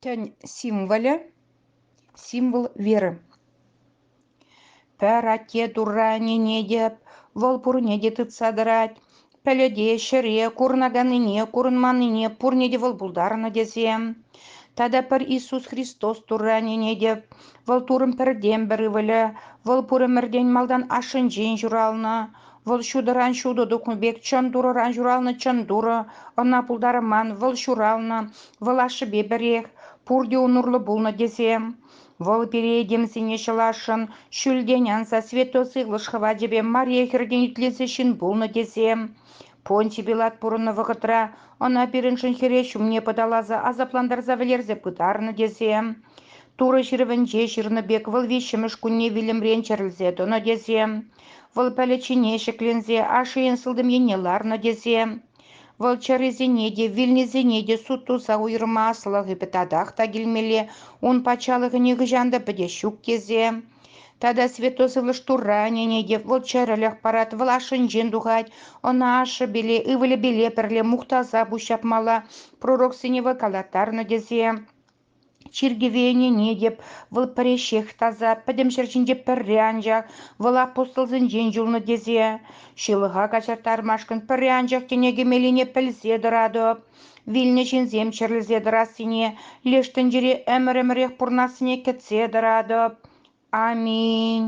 Тӗн символӗ – символ веры. Пӗрате турранине те, вӑл пурне те тытса тӑрать. Пӗлӗте, ҫӗре, курӑнаканнине, курӑнманнине пурне те вӑл пултарнӑ тесе. Тата пӗр Иисус Христос турранине те, вӑл турӑн пӗртен-пӗр ывӑлӗ, вӑл пур ӗмӗртен малтан ашшӗнчен ҫуралнӑ. Вӑл ҫутӑран ҫутӑ тухнӑ пек чӑн Турӑран ҫуралнӑ чӑн Турӑ, ӑна пултарман, вӑл ҫуралнӑ, вӑл ашшӗпе пӗрех, пурте ун урлӑ пулнӑ тесе. Вӑл пире этемсене ҫӑласшӑн, ҫӳлтен анса святой сывлӑш хӑвачӗпе Мария хӗртен итлесе ҫын пулнӑ тесе. Понтий Пилат пурӑннӑ вӑхӑтра ӑна пирӗншӗн хӗре ҫумне пӑталаса асаплантарса вӗлерсе пытарнӑ тесе. Турӑ ҫырӑвӗнче ҫырнӑ пек вӑл виҫҫӗмӗш кунне вилӗмрен чӗрӗлсе тӑнӑ тесе. Вӑл пӗлӗччине ҫӗкленсе ашшӗен сылтӑм енне ларнӑ тесе, вӑл чӗрисене те, вилнисене те суд туса уйӑрмаслӑхӗпе татах та килмелле, ун патшалӑхӗ нихӑҫан та пӗтес ҫук тесе. Тата Святой Сывлӑш Турра ӗненет те, вӑл чӗрӗлӗх парать, вӑл ашшӗнчен тухать, ӑна ашшӗпеле, ывӑлӗпеле пӗрле мухтаса пуҫҫапмалла, пророксене вӑй калаттарнӑ тесе. Чиркӗве ӗненетӗп, вӑл пӗреҫех таса, пӗтӗм ҫӗр ҫинче пӗрре анчах, вӑл апостолсенчен юлнӑ тесе. Ҫылӑха каҫарттармашкӑн пӗрре анчах тӗне кӗмеллине пӗлсе тӑратӑп. Вилнӗ ҫынсем чирлесе тӑрассине, леш тӗнчере ӗмӗр-ӗмӗрех пурӑнассине кӗтсе тӑратӑп. Аминь.